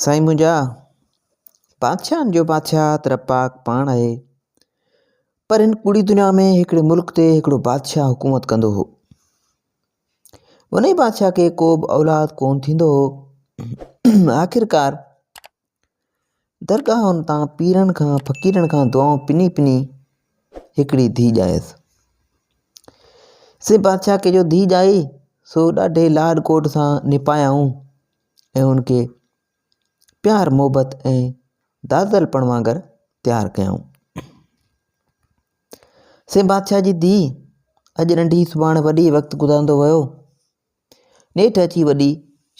سائين منهنجا، بادشاهن جو بادشاهه ته رب پاڪ پاڻ آهي، پر هن ڪوڙي دنيا ۾ هڪڙي ملڪ تي هڪڙو بادشاهه حڪومت ڪندو هو. انهي بادشاهه کي ڪوبه اولاد ڪونه ٿيندو هو. آخرڪار درگاهن تان پيرن کان فقيرن کان دعائون پني پني هڪڙي ڌي ڄايس. سي بادشاهه کي جو ڌي ڄائي سو ڏاڍي لاڏ ڪوٽ سان نپايائون ۽ ان کي پيار محبت ۽ دادل پڻ وانگر تيار ڪيائون سي بادشاهه جي ڌي اڄ ننڍي سڀاڻ وڏي وقت گذارندو ويو نيٺ اچي وڏي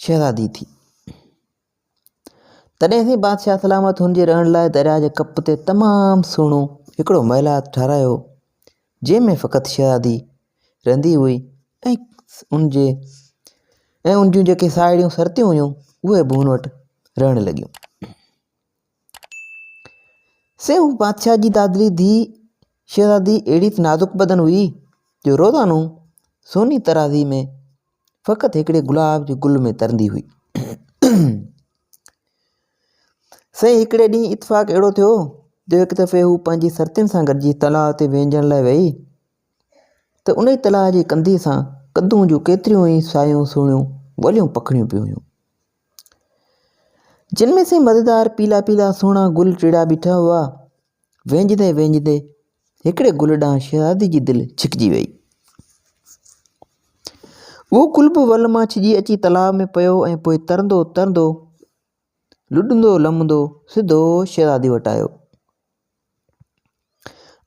شهزادي ٿي تڏهن سي بادشاهه سلامت هن جي رهڻ لاء دريا جي ڪپ تي تمام سهڻو هڪڙو محلات ٺارايو جنهن ۾ فقط شهزادي رهندي هئي ۽ ان جي ۽ ان جون جيڪي ساهيڙيون سرتيون هيون اهي به هن وٽ رهڻ لڳيون سي هو بادشاهه جي دادلي ڌي شهزادي اهڙي ته نازڪ بدن هئي جو روزانو سوني ترازي ۾ فقط هڪڙي گلاب جي گل ۾ ترندي هئي سي هڪڙي ڏينهن اتفاق اهڙو ٿيو جو هڪ دفعي هو پنهنجي سرتين سان گڏجي تلاء تي وينجڻ لاء ويئي ته انهيء تلاء جي ڪنڌيء سان ڪدون جون ڪيتريون ئي سايون سهڻيون ٻوليون پکڙيون پيون هيون، جن ۾ سين مزيدار پيلا پيلا سهڻا گل ٽيڙا بيٺا هئا. وينجهندي وينجهندي هڪڙي گل ڏانهن شهزادي جي دل ڇڪجي ويئي. اهو گل به ول مان ڇڄي اچي تلاء ۾ پيو ۽ پوء ترندو ترندو، لڏندو لمندو سڌو شهزادي وٽ آيو.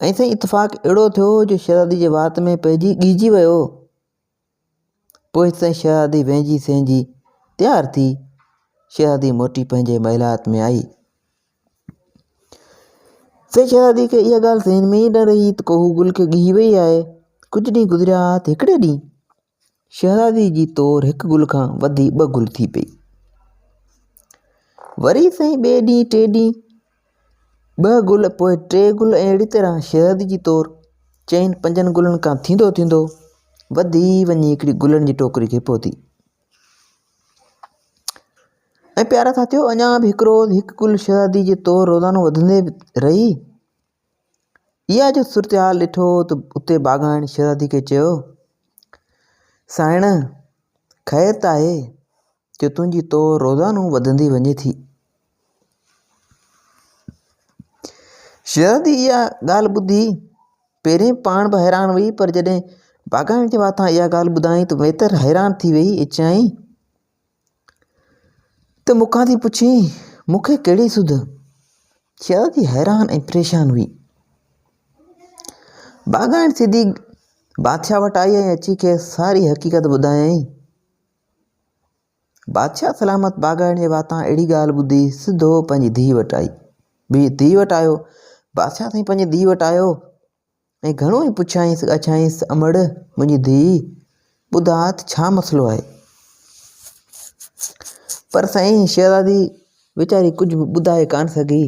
۽ سائين اتفاق اهڙو ٿيو جو شهزادي جي وات ۾ پئجي ڳهجي ويو. پوء سائين شهزادي وهنجي سهنجي تيار ٿي شهزادي موٽي پنهنجي محلات ۾ آئي. سائين شهزادي کي اها ڳالهه ذهن ۾ ئي نه رهي ته ڪوهو گل کي ڳهي وئي آهي. ڪجهه ڏينهن گذريا ها ته هڪڙي ڏينهن شهزادي جي طور هڪ گل کان وڌي ٻه گل ٿي پئي. وري سائين ٻئي ڏينهن ٽي ڏينهن ٻه گل پوء ٽي گل ۽ اهڙي طرح شهزادي جي طور چئن پنجن گلن کان ٿيندو ٿيندو وڌي وڃي هڪڙي گلن جي ٽوڪري کي پهتي. ۽ پيارا ساٿيو اڃا به هڪ روز هڪ گل شهزادي جي طور روزانو وڌندي رهي. اها جو صورتحال ڏٺو ته اتي باغائڻ شهزادي کي چيو، سانئڻ! خير ته آهي جو تنهنجي تو روزانو وڌندي وڃي ٿي. شهزادي اها ڳالهه ٻڌي پهرين پاڻ به حيران هئي پر جڏهن باغائڻ جي واتان اها ڳالهه ٻڌائين ته ويتر حيران ٿي ويئي ۽ چيائين، ته مون کان ٿي پڇين، مون کي ڪهڙي سڌ؟ شهزادي حيران ۽ پريشان هئي. باغائڻ سڌي بادشاهه وٽ آئي ۽ اچي کيس ساري حقيقت ٻڌايائين. بادشاهه سلامت باغائڻ جي واتان اهڙي ڳالهه ٻڌي سڌو پنهنجي ڌيء وٽ آئي. ڌيء وٽ آيو، بادشاهه سائين پنهنجي ڌيء وٽ آيو. ۽ گهڻو ئي پڇيائينس ڳاڇائينس امڙ منهنجي ڌيء ٻڌاء ته ڇا مسئلو آهي؟ پر سائين شهزادي ويچاري ڪجهه به ٻڌائي ڪانه سگهي.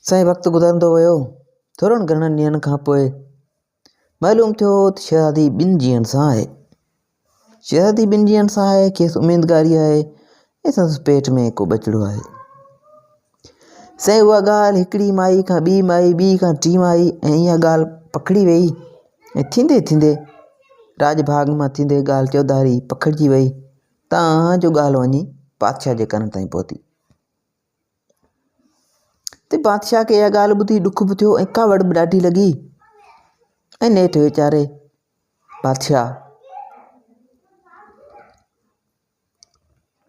سائين وقت گذرندو ويو ٿورن گهڻن ڏينهن کان پوء معلوم ٿيو هو ته شهزادي ٻن جيئن سان آهي. شهزادي ٻن جيئن سان آهي، کيس اميدگاري آهي ۽ سندس پيٽ ۾ ڪو ٻچڙو آهي. سائين اها ڳالهه هڪڙي مائي کان ٻي مائي، ٻي کان ٽين مائي ۽ اها ڳالهه پکڙي ويئي ۽ ٿيندي ٿيندي راڄ ڀاڳ مان ٿيندي ڳالهه چوڌاري پکڙجي ويئي تان جو ڳالهه وڃي پادشاهه جي ڪن تائين پهتي. ته بادشاهه کي اها ڳالهه ٻڌي ڏک به ٿيو ۽ ڪاوڙ به ڏاڍي لڳي ۽ نيٺ ويچاري بادشاهه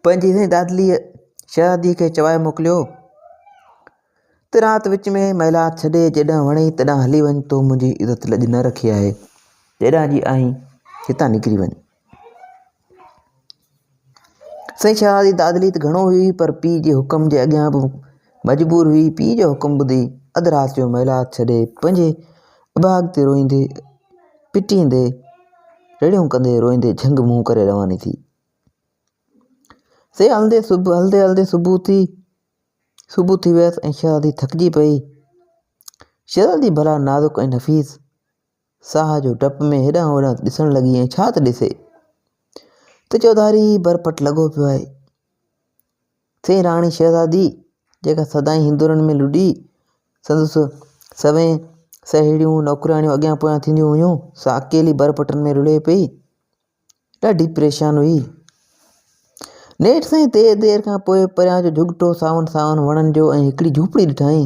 پنهنجي سائين دادليء شهزادي کي چوائي موڪليو ته رات وچ ۾ محلات ڇڏي جيڏانهن وڻي تڏانهن هلي وڃ تو منهنجي عزت لڄ نه رکي آهي جيڏانهن جي آهين هتان نڪري وڃ سائين شاهه جي دادلي ته گهڻو هئي پر پيء جي حڪم جي اڳيان به مجبور هئي. پيء جو حڪم ٻڌي اڌ رات جو محلات ڇڏي پنهنجي اڀاڳ تي روئيندي پٽيندي رڙيون ڪندي روئيندي جهنگ منهن ڪري رواني ٿي. سي هلندي صبح هلندي هلندي صبح ٿي صبح ٿي ويس ۽ شهزادي ٿڪجي پئي شهزادي ڀلا نازڪ ۽ نفيس ساهه جو ڊپ ۾ هيڏانهن هوڏانهن ڏسڻ لڳي ۽ ڇا ته ڏسي ته چوڌاري ئي برپٽ لڳو پيو آهي. سين راڻي شهزادي جيڪا سدائين هندورن ۾ لڏي سندس سوين سهيڙيون نوڪرياڻيون اڳيان پويان ٿينديون هيون سا اڪيلي برپٽن ۾ رڙهي پئي. ڏاڍي پريشان هئي. نيٺ سائين دير دير کان پوء پريان جو جهڳٽو ساون ساون وڻن جو ۽ هڪڙي جهوپڙي ڏٺائين.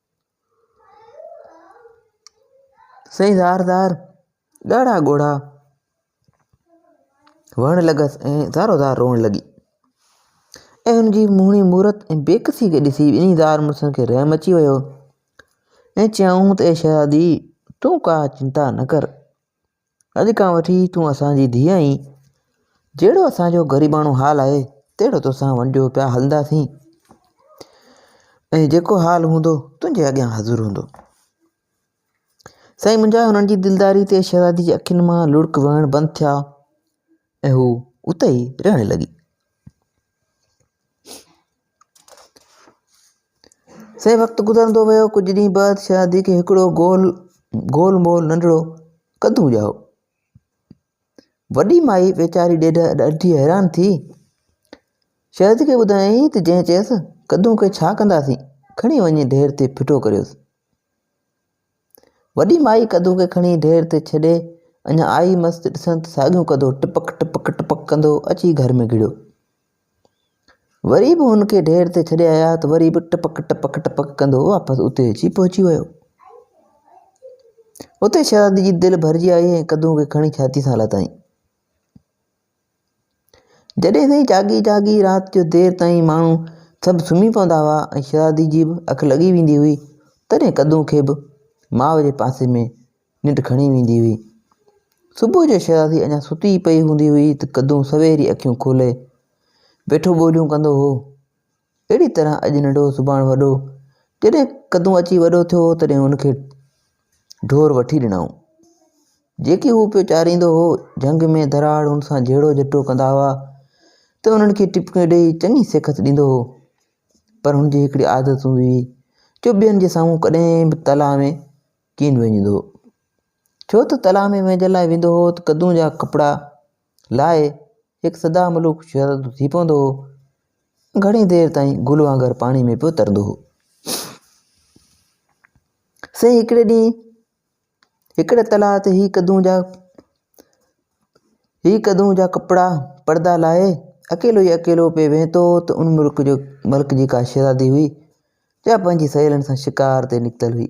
سائين ڌار ڌار ڳاڙها ڳوڙها وهڻ لڳس ۽ ڌارو ڌار روئڻ لڳي ۽ هن جي موهڻي مورت ۽ بيڪسي کي ڏسي ٻنهي زال مڙسن کي رحم اچي ويو ۽ چيائون ته اي شهزادي تون ڪا چنتا نه ڪر اڄ کان وٺي تون اسان جي ڌيء آهين. جهڙو اسان جو غريباڻو حال آهي، تهڙو توسان ونڊيو پيا هلنداسين ۽ جيڪو حال هوندو، تنهنجي اڳيان حاضر هوندو. سائين منهنجا هنن جي دلداري تي شهزادي جي اکين مان لڙڪ وهڻ بند ٿيا ۽ هو اتي ئي رئڻ لڳي. سي وقت گذرندو ويو. ڪجهه ڏينهن بعد شهزادي کي هڪڙو گول گول مول ننڍڙو قدون ڄائو. وڏي مائي ويچاري ڏٺي حيران ٿي شهزادي کي ٻڌايائين ته جنهن چيس قدون کي ڇا ڪنداسين کڻي وڃي ڍير تي ڦٽو ڪريوس. وڏي مائي ڪڌو کي کڻي ڍير تي ڇڏي اڃا آئي مس ته ڏسن ته ساڳيون ڪڌو ٽپڪ ٽپڪ ٽپڪ ڪندو اچي گهر ۾ گهڙيو. وري به هن کي ڍير تي ڇڏي آيا ته وري به ٽپڪ ٽپڪ ٽپڪ ڪندو واپس اتي اچي پهچي ويو. اتي شهزادي جي دل ڀرجي آئي ۽ ڪڌو کي کڻي ڇاتي سان لاتائين. جڏهن تائين جاڳي جاڳي رات جو دير تائين ماڻهو سڀ سمهي پوندا هئا ۽ شهزادي جي به اک لڳي ويندي هئي، تڏهن قدون کي به ماء جي پاسي ۾ ننڊ کڻي ويندي هئي. صبح جو شهزادي اڃا ستي ئي پئي هوندي هئي ته قدون سوير ئي اکيون کولي ويٺو ٻوليون ڪندو هو. اهڙي طرح اڄ ننڍو سڀاڻ وڏو، جڏهن قدون اچي وڏو ٿيو تڏهن هن کي ڍور وٺي ڏنائون. جيڪي هو پيو چاريندو هو، جهنگ ۾ ڌراڙ هن سان جهيڙو جهٽو ڪندا هئا ته انهن کي ٽپڪيون ڏيئي چڱي سيکت ڏيندو هو. پر هن جي هڪڙي عادت هوندي هئي جو ٻين جي سامهون ڪڏهن به تلاء ۾ ڪين وهنجندو هو. ڇو ته تلاء ۾ وهنجڻ لاء ويندو هو ته قدون جا ڪپڙا، لاء هڪ سدا ملوڪ شهزادو ٿي پوندو هو. گهڻي دير تائين گل وانگر پاڻي ۾ پيو ترندو هو. سائين هڪڙي ڏينهن هڪڙي تلاء تي هي قدون جا هي قدون جا ڪپڙا پردا لاهي اڪيلو ئي اڪيلو پئي ويهتو هو ته ان ملڪ جو ملڪ جي ڪا شهزادي هئي جا پنهنجي سهيلن سان شڪار تي نڪتل هئي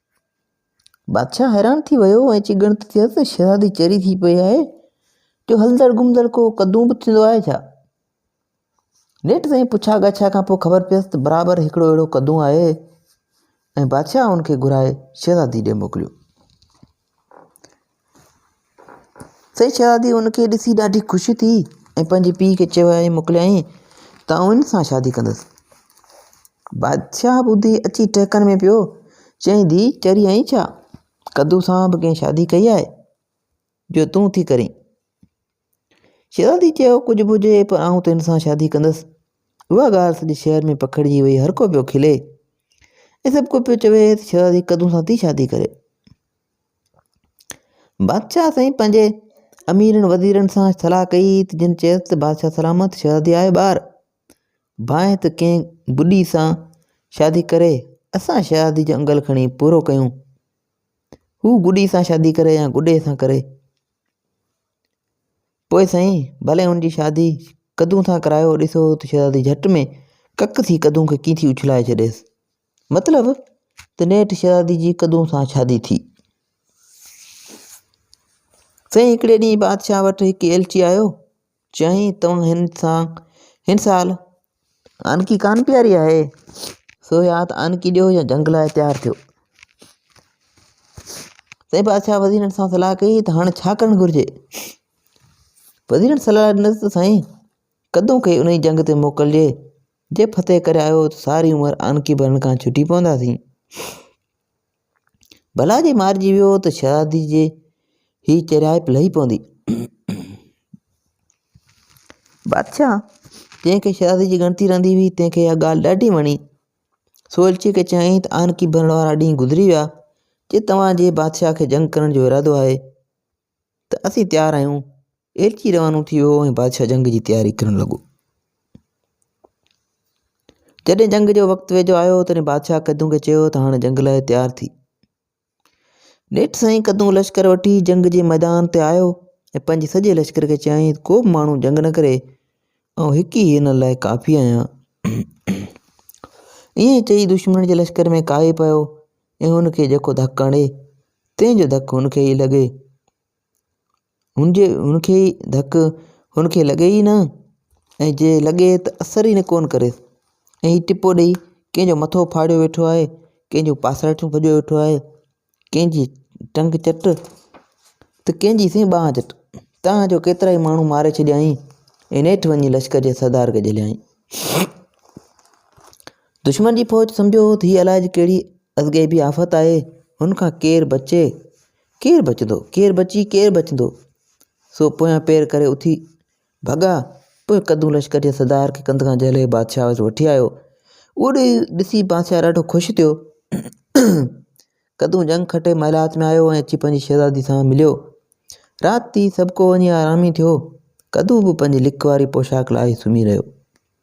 بادشاهه حيران ٿي ويو ۽ اچي ڳڻتي ٿيس ته شهزادي چري ٿي پئي آهي جو هلندڙ گهمندڙ ڪو قدون به ٿيندو آهي ڇا؟ نيٺ تائين پڇا ڳاڇا کان پوء خبر پيس ته برابر هڪڙو اهڙو قدون آهي ۽ بادشاهه ان کي گهرائي شهزادي ڏي موڪليو. سائين شهزادي ان کي ڏسي ڏاڍي خوشي ٿي ۽ پنهنجي پيء کي چيو ۽ موڪليائين ته آئون ان سان شادي ڪندس. بادشاهه ٻڌي اچي ٽهڪن ۾ پيو چيائين ڌيء چري آئين ڇا؟ ڪدو سان به ڪنهن شادي ڪئي آهي جو تون ٿي ڪرين. شيرازي چيو، ڪجهه به هجي پر آئون ته هن سان شادي ڪندس. اها ڳالهه سڄي شهر ۾ پکڙجي وئي، هر ڪو پيو کلي ۽ سڀ ڪو پيو چوي ته شيرازي قدون سان ٿي شادي ڪري. بادشاهه سائين پنهنجي اميرن وزيرن سان صلاح ڪئي ته جن چيس ته بادشاهه سلامت شيرازي آهي ٻار، ڀانء ته ڪنهن ٻڍي سان شادي ڪري، اسان شيرازي جو انگل کڻي پورو ڪيون. هو ٻڍي سان شادي ڪري يا ٻڍي سان ڪري. پوء سائين ڀلي هن جي شادي قدون سان ڪرايو ڏسو ته شهزادي جهٽ ۾ ڪڪ ٿي قدون کي ڪيئن ٿي اڇلائي ڇڏيس. مطلب ته نيٺ شهزادي جي قدون سان شادي ٿي. سائين هڪڙي ڏينهن بادشاهه وٽ هڪ ايلچي آيو چيائين توهان هن سان هن سال آنڪي ڪانه پياري آهي، سو يا ته آنڪي ڏيو يا جنگ لاء تيار ٿيو. سائين بادشاهه وزيرن سان صلاح ڪئي ته هاڻي ڇا ڪرڻ گهرجي؟ وزيرن صلاح ڏنس ته سائين قدون کي انهي جنگ تي موڪلجي، جي فتح ڪري آيو ته ساري عمر آنڪي ڀرڻ کان ڇٽي پونداسين. ڀلا جي مارجي ويو ته شهزادي جي هي چريائپ لهي پوندي. بادشاهه جنهن کي شهزادي جي ڳڻتي رهندي هئي، تنهن کي اها ڳالهه ڏاڍي وڻي. سو الچي کي چيائين ته آنڪي ڀرڻ وارا ڏينهن گذري ويا، جي توهان جي بادشاهه کي جنگ ڪرڻ جو ارادو آهي. ته اسين تيار آهيون. ايلچي روانو ٿي ويو ۽ بادشاهه جنگ جي تياري ڪرڻ لڳو. جڏهن جنگ جو وقت ويجهو آيو تڏهن بادشاهه قدون کي چيو ته هاڻي جنگ لاء تيار ٿي. نيٺ سائين قدون لشڪر وٺي جنگ جي ميدان تي آيو ۽ پنهنجي سڄي لشڪر کي چيائين ته ڪو به ماڻهو جنگ نه ڪري، آئون هڪ ئي هنن لاء ڪافي آهيان. ائين چئي دشمنن جي لشڪر ۾ ڪاهي پيو ۽ هن کي جيڪو ڌڪ هڻي، تنهن جو ڌڪ هن کي ئي لڳي. هن جي هن کي ئي ڌڪ هن کي لڳي ئي نه، ۽ جي لڳي ته اثر ئي ڪونه ڪريس. ۽ هي ٽپو ڏيئي ڪنهن جو مٿو ڦاڙيو ويٺو آهي، ڪنهن جون پاسرٽيون ڀڄيو ويٺو آهي، ڪنهن جي ٽنگ چٽ، ته ڪنهن جي سائين ٻانهن چٽ. تنهن جو ڪيترا ئي ماڻهو ماري ڇڏيائين ۽ نيٺ وڃي لشڪر جي سردار کي جهليائين. دشمن جي فوج سمجهيو هو ته هيء الائج ڪهڙي ازغيبي آفت آهي، هن کان ڪير بچي، ڪير بچندو، ڪير بچي، ڪير بچندو؟ سو پويان پير ڪري اٿي ڀڳا، پوء قدون لشڪر جي سردار کي ڪنڌ کان جهلي بادشاهه وٽ وٺي آيو. اهو ڏسي بادشاهه ڏاڍو خوش ٿيو. قدون جنگ کٽي محلات ۾ آيو ۽ اچي پنهنجي شهزادي سان مليو. رات ٿي، سڀڪو وڃي آرامي ٿيو. قدون به پنهنجي لڪ واري پوشاڪ لاهي سمهي رهيو.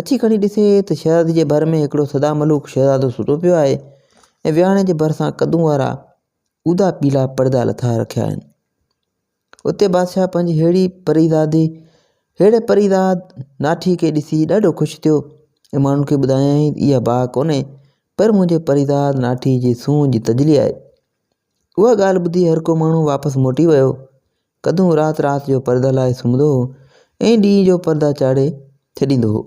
اچي کڻي ڏسي ته شهزادي جي ڀر ۾ هڪڙو سدا ملوڪ شهزادو ستو پيو آهي ۽ ويهاڻي جي ڀرسان قدون وارا اودا پيلا پڙدا لٿائي رکيا آهن. اتي بادشاهه پنهنجي هيڙي پريزادي هيڙي پريزاد ناٺي کي ڏسي ڏاڍو خوش ٿيو ۽ ماڻهن کي ٻڌايائين ته اها باهه ڪونهي پر منهنجي پريزاد ناٺي جي سونهن جي تجلي آهي. اها ڳالهه ٻڌي هرڪو ماڻهو واپس موٽي ويو ڪڌون رات رات جو پرده لاهي سمهندو هو ۽ ڏينهن جو پردا چاڙهي ڇڏيندو هو.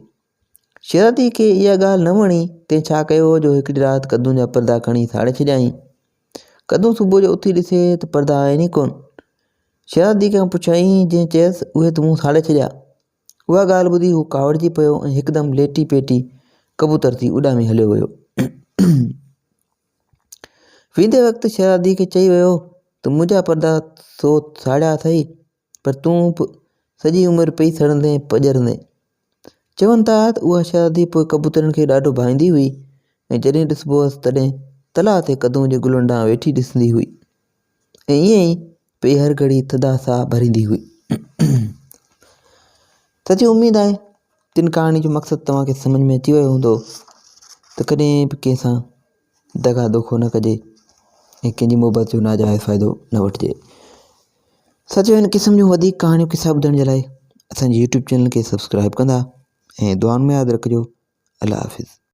شيرازي کي اها ڳالهه نه وڻي، تنهن ڇا ڪيو هو جو هڪڙي رات ڪڌون جا پردا کڻي ساڙي ڇڏيائين. ڪڌون صبح جو اٿي ڏسي ته پردا آهن ئي ڪونه. شيرازي کان پڇيائين، جنهن چيس اهي ته مون ساڙي ڇڏيا. اها ڳالهه ٻڌي هو ڪاوڙجي پيو ۽ هڪدم ليٽي پيٽي ڪبوتر ٿي اڏامي هليو ويو. ويندي وقت شهزادي کي چئي ويو ته منهنجا پردا تو ساڙيا اٿئي پر تون به سڄي عمر پئي سڙندين پڄرندين. چون ٿا ته اها شهزادي پوء ڪبوترن کي ڏاڍو ڀائيندي هئي ۽ جڏهن ڏسبو هئس تڏهن تلاء تي قدون جي گلن ڏانهن ويٺي ڏسندي هئي ۽ ائين ئي پئي هر گهڙي ٿڌا ساهه ڀريندي هئي. سچي اميد آهي ته ان ڪهاڻي جو مقصد توهان کي سمجهه ۾ اچي ويو هوندو ته ڪڏهن به ڪنهن سان دغا دوکو نه ڪجي ۽ ڪنهن جي محبت جو ناجائز فائدو نه وٺجي سچو هن قسم جون وڌيڪ ڪهاڻيون قصا ٻڌڻ جي لاء اسان جي يوٽيوب چينل کي سبسڪرائب ڪندا ۽ دعائن ۾ ياد رکجو الله حافظ